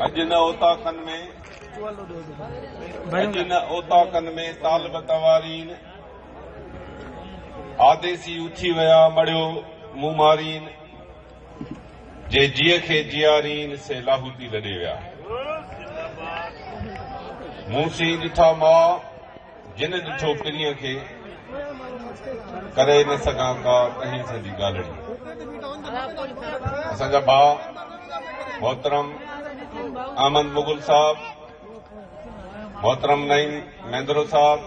اڄ ان اوطاقن ۾ اڄ ان اوطاقن ۾ طالب توارين آديسي اٿي ويا مڙيو مومارين جي جيء کي جيارين سي لاهوتي لڏي ويا مون سين ڏٺا ماء جن ڏٺو پرينء کي، ڪري نه سگهان ڪا اهنس جي ڳالهڙي. اسان جا ڀاء محترم احمد مغل صاحب، محترم نعيم ميندرو صاحب،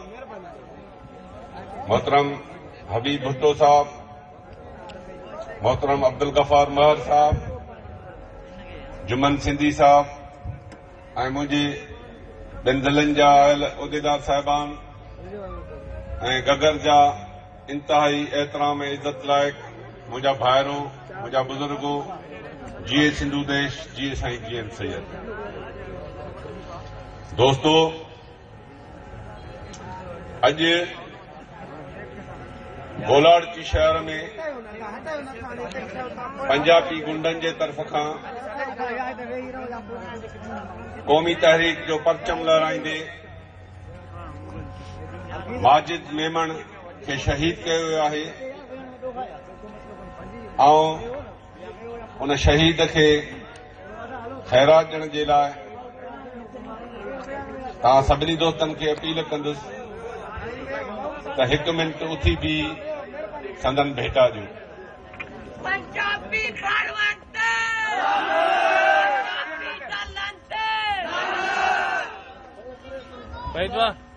محترم حبيب ڀٽو صاحب، محترم عبدالغفار مهر صاحب، جمن سنڌي صاحب، ۽ منهنجي ٻن ضلعن جا آيل عهديدار صاحبان ۽ گگهر جا انتهائي احترام ۽ عزت لائق منهنجا ڀائرو، منهنجا بزرگو، جيئي سنڌو ديش، جيئي سائين جي ايم سيد. دوستو! اڄ گولاڙچي شهر ۾ پنجاپي غنڊن جي طرف کان قومي تحريڪ جو پرچم لهرائيندي ماجد ميمڻ کي شهيد ڪيو ويو آهي. آئون ان شهيد کي خيرات ڏيڻ جي لاء توهان سڀني دوستن کي اپيل ڪندس ته هڪ منٽ اٿي بي سندن ڀيٽا ڏيو Wait, what?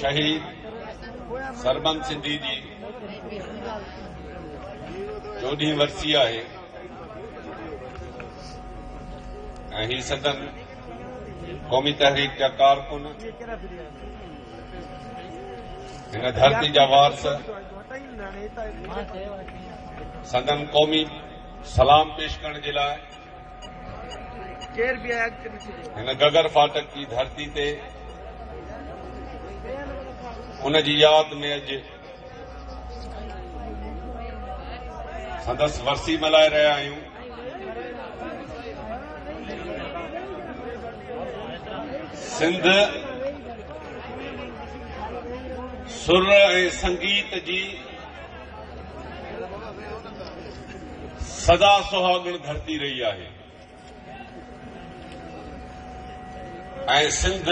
شهيد سربنس سنڌي جي چوڏهين ورسي آهي ۽ هي سندن قومي تحريڪ جا ڪارڪن هن ڌرتي جا وارث سندن قومي سلام پيش ڪرڻ جي لاء هن گگر ڦاٽڪ جي ڌرتي تي ان جي ياد ۾ اڄ سندس ورسي ملهائي رهيا آهيون سنڌ سر ۽ سنگيت جي سدا سهاڳڻ ڌرتي رهي آهي ۽ سنڌ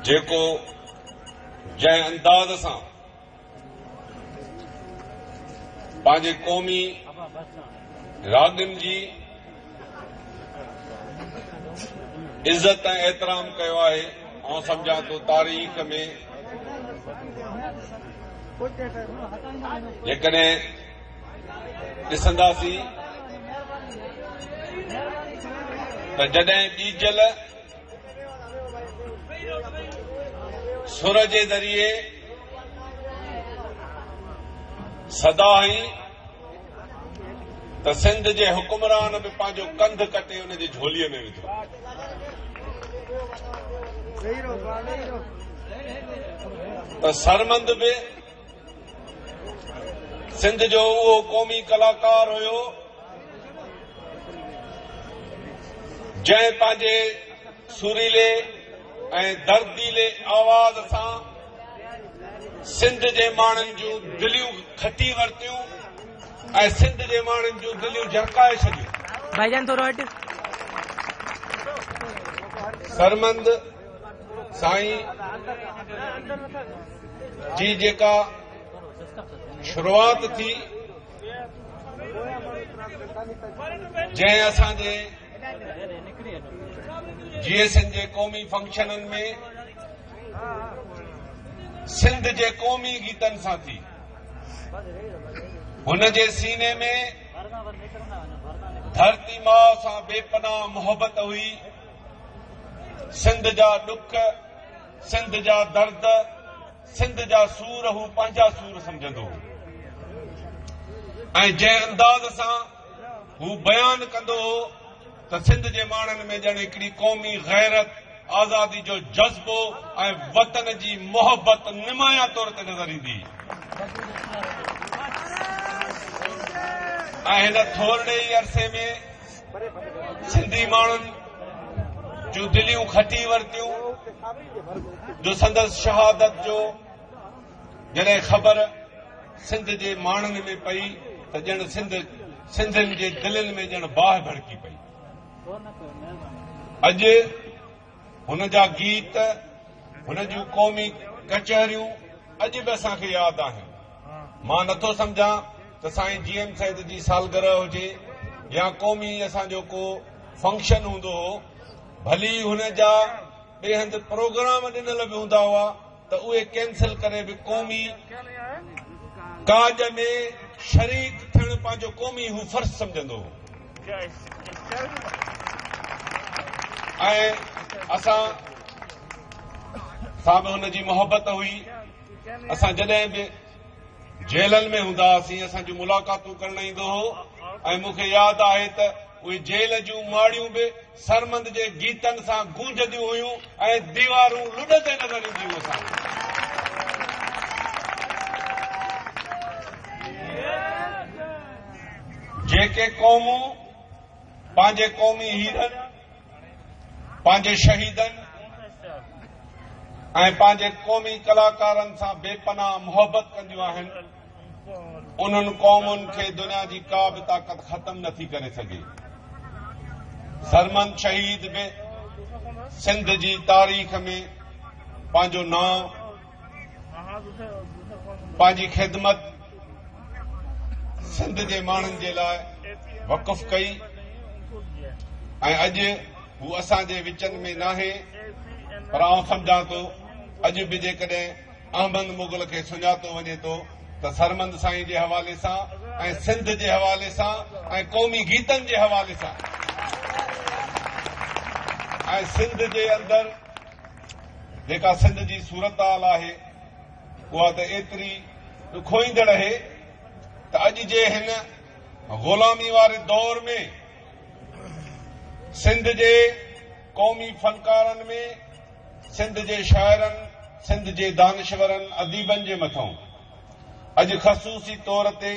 جيڪو جنهن انداز سان پنهنجي قومي راڳن جي عزت ۽ احترام ڪيو آهي آئون سمجهان ٿو تاريخ ۾ جيڪڏهن ڏسنداسين ته جڏهن ٻيجل سر جي ذريعي سدا هئي ته سنڌ جي حڪمران به پنهنجو ڪنڌ ڪٽي ان جي جهوليء ۾ وڌو. ته سرمند به سنڌ جو اهو قومي ڪلاڪار هيو جنهن پنهنجي سريلي ۽ درديلي آواز سان سنڌ جي ماڻهن جون دليون کٽي ورتيون ۽ سنڌ جي ماڻهن جون دليون جرڪائي ڇڏيون. ڀائي جان ٿورو هٽ. سرمند سائين جي جيڪا شروعات ٿي جنهن اسان جي جي ايس اين جي قومي فنڪشنن ۾ سنڌ جي قومي گيتن سان ٿي. هن جي سيني ۾ ڌرتي ماء سان بي پناهه محبت هئي. سنڌ جا ڏک، سنڌ جا درد، سنڌ جا سور هو پنهنجا سور سمجهندو هو. ۽ جنهن انداز سان هو بيان ڪندو هو، ته سنڌ جي ماڻهن ۾ ڄڻ هڪڙي قومي غيرت، آزادي جو جذبو ۽ وطن جي محبت نمايان طور تي نظر ايندي ۽ هن ٿورڙي ئي عرصي ۾ سنڌي ماڻهن جون دليون کٽي ورتيون جو سندس شهادت جو جڏهن خبر سنڌ جي ماڻهن ۾ پئي ته ڄڻ سنڌ سنڌين جي دلين ۾ ڄڻ باهه ڀڙڪي پئي. اڄ هن جا گيت، هن جون قومي ڪچهريون اڄ به اسان کي ياد آهن. مان نٿو سمجهان ته سائين جي ايم سيد جي سالگرهه هجي يا قومي اسان جو ڪو فنڪشن هوندو هو، ڀلي هن جا ٻيهند پروگرام ڏنل به هوندا هئا، ته اهي ڪينسل ڪري به قومي ڪاڄ ۾ شريڪ ٿيڻ پنهنجو قومي هو فرض سمجهندو هو ۽ اسان سان به هن جي محبت هئي اسان جڏهن به جيلن ۾ هوندا هئاسين اسان جون ملاقاتون ڪرڻ ايندو هو ۽ مون کي ياد آهي ته اهي جيل جون ماڙيون به سرمند جي گيتن سان گونجنديون هيون ۽ ديوارون لڏندي نظر اينديون هوسان. جيڪي قومون پنهنجي قومي هيرن، پنهنجي شهيدن ۽ پنهنجي قومي ڪلاڪارن سان بي پناهه محبت ڪنديون آهن، انهن قومن کي دنيا جي ڪا به طاقت ختم نه ٿي ڪري سگهي. سرمند شهيد به سنڌ جي تاريخ ۾ پنهنجو نانء، پنهنجي خدمت سنڌ جي ماڻهن جي لاء وقف ڪئي ۽ اڄ هو اسان جي وچن ۾ ناهي پر آئون سمجهان ٿو اڄ به جيڪڏهن احمد مغل کي سڃاتو وڃي ٿو ته سرمند سائين جي حوالي سان ۽ سنڌ جي حوالي سان ۽ قومي گيتن جي حوالي سان ۽ سنڌ جي اندر جيڪا سنڌ جي صورتحال آهي اها ته ايتري ڏکوئيندڙ اهي ته اڄ جي هن غلامي واري دور ۾ سنڌ جي قومي فنڪارن ۾ سنڌ جي شاعرن، سنڌ جي دانشورن، اديبن جي مٿان اڄ خصوصي طور تي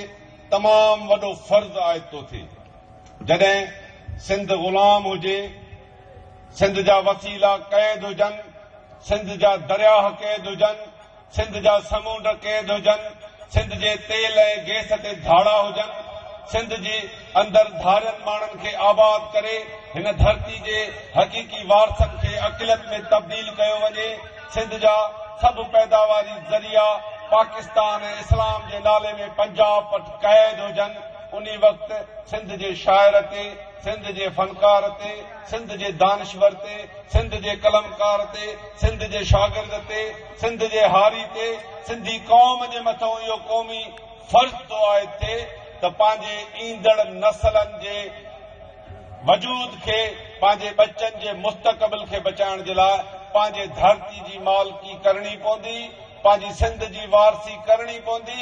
تمام وڏو فرض عائد ٿو ٿئي. جڏهن سنڌ غلام هجي، سنڌ جا وسيلا قيد هجن، سنڌ جا درياهه قيد هجن، سنڌ جا سمونڊ قيد هجن، سنڌ جي تيل ۽ گيس تي ڌاڙا هجن، سنڌ جي اندر ڌارين ماڻهن کي آباد ڪري هن ڌرتي جي حقيقي وارثن کي اقليت ۾ تبديل ڪيو وڃي، سنڌ جا سڀ پيداواري ذريعا پاڪستان ۽ اسلام جي نالي ۾ پنجاب وٽ قيد هجن، انهي وقت سنڌ جي شاعر تي، سنڌ جي فنڪار تي، سنڌ جي دانشور تي، سنڌ جي قلمڪار تي، سنڌ جي شاگرد تي، سنڌ جي هاري تي سنڌي قوم جي مٿئون اهو قومي فرض ٿو عائد ٿئي ته پنهنجي ايندڙ نسلن جي وجود کي، پنهنجي ٻچن جي مستقبل کي بچائڻ جي لاء پنهنجي ڌرتي جي مالڪي ڪرڻي پوندي، پنهنجي سنڌ جي وارثي ڪرڻي پوندي.